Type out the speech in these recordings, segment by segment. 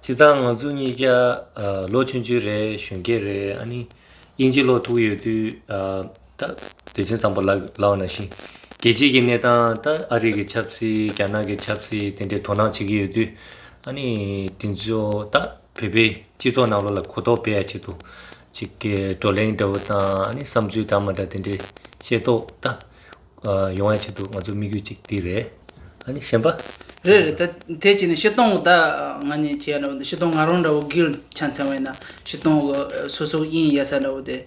བྱས་ཙང་ང་ཚོ་གཉིས་ཀ་ལོ་ཆུང་ཆུང་རེད་གཞོན་སྐྱེས་རེད་ཨ་ནི་དབྱིན་ཇི་ལོ་ཐུག་ཡོད་དུས་ད་བོད་ཆས་ཙམ་པོ་ལག་ན་ཤི་རྒྱལ་སྤྱིའི་གི་གནས་སྟངས་ད་ཨ་རི་གི་ཆབ་སྲིད་རྒྱ་ནག་གི་ཆབ་སྲིད་དེ་འདྲའི་དོ་སྣང་བྱེད་ཀྱི་ཡོད་དུས་ཨ་ནི་དེ་ཚོ་ད་བོད་པའི་སྤྱི་ཚོགས་ནང་ལོག་ལ་གོ་རྟོགས་སྤེལ་ཡ་བྱེད་དུ་ཅིག་བགྲོ་གླེང་འདྲ་བོ་དང་ཨ་ནི་བསམ་ཚུལ་དང་མ་འདྲ་དེ་འདྲའི་བཤད་ཏོ་ད། ཡོང་བའི་ཆེད་དུ་ང་ཚོའི་དམིགས་ཡུལ་གཅིག་དེ་རེད། ཨ་ནི་གཞན་པ། རེད་རེད་ད་དེ་གཅིག་ནི་བཤི་སྟོང་ད་ང་གཉིས་བྱས་ཡ་འདྲ་བོ་འདུག་བཤི་སྟོང་ང་རང་འདྲ་བོ་གིལ་ཆ་མཚན་བས་ན་བཤི་སྟོང་གི་སོ་སོ་དབྱིན་ཡ་ས་འདྲ་བོ་དེ།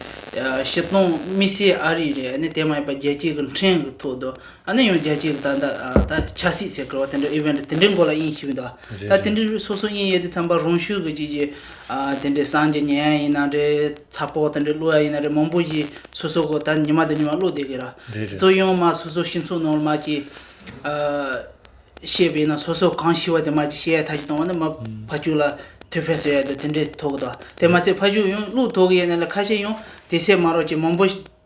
བཤི་སྟོང་དམིགས་བསལ་ཨ་རི་རེད་ཨ་ནི་དེ་མ་ཡིན་པ་རྒྱལ་སྤྱིའི་གི་འཕྲེང་གི་ཐོག་དུ་ཨ་ནི་ཡང་རྒྱལ་སྤྱིའི་གི་ད་ད་ད་ཆ་སྲིད་ཟེར་ཀི་བ་དེ་འདྲ་ཨི་བེན་དེ་འདྲའི་མགོ་ལ་དབྱིན་ཞིབ་འདུག་ད་དེ་འདྲའི་སོ་སོ་དབྱིན་ཡ་དེ་ཚང་པ་རང་ཤུགས་གི་གཅིག་གི་དེ་འདྲའི་སངས་རྒྱས་ཉན་ཡ་ཡིན་ན་རེད། ཚ་ཕོ་དེ་འདྲས་བླུག་ཡ་ཡིན་ན་རེད་མང་པོ་ཞིག་སོ་སོ་གོ་ད་ཉི་མ་དེ་ཉི་མ་བླུག་བསྡད་གི་ར་བཙོ་ཡང་མ་སོ་སོ་ཤིང་ཚུགས་ནང་མ་ཀྱི་བཤད་པའི་ན་སོ་སོ་གང་ཤི་བ་དེ་མ་ཀྱི་བཤད་ཡ་ཐ་ཅི་བཏང་བ་ན་མ་ཕ་ཅུག་ལ་དུས་ཕེ་ཟེར་ཡ་དེ་དེ་འདྲས་ཐོག་གི་ད་དེ་མ་ཚད་ཕ་ཅུག་ཡང་བླུག་ཐོག་གི་ཡ་ན་ལ་ཁ་ཤས་ཡང་དེ་སད་མ་རོག་ཅིག་མང་པོ།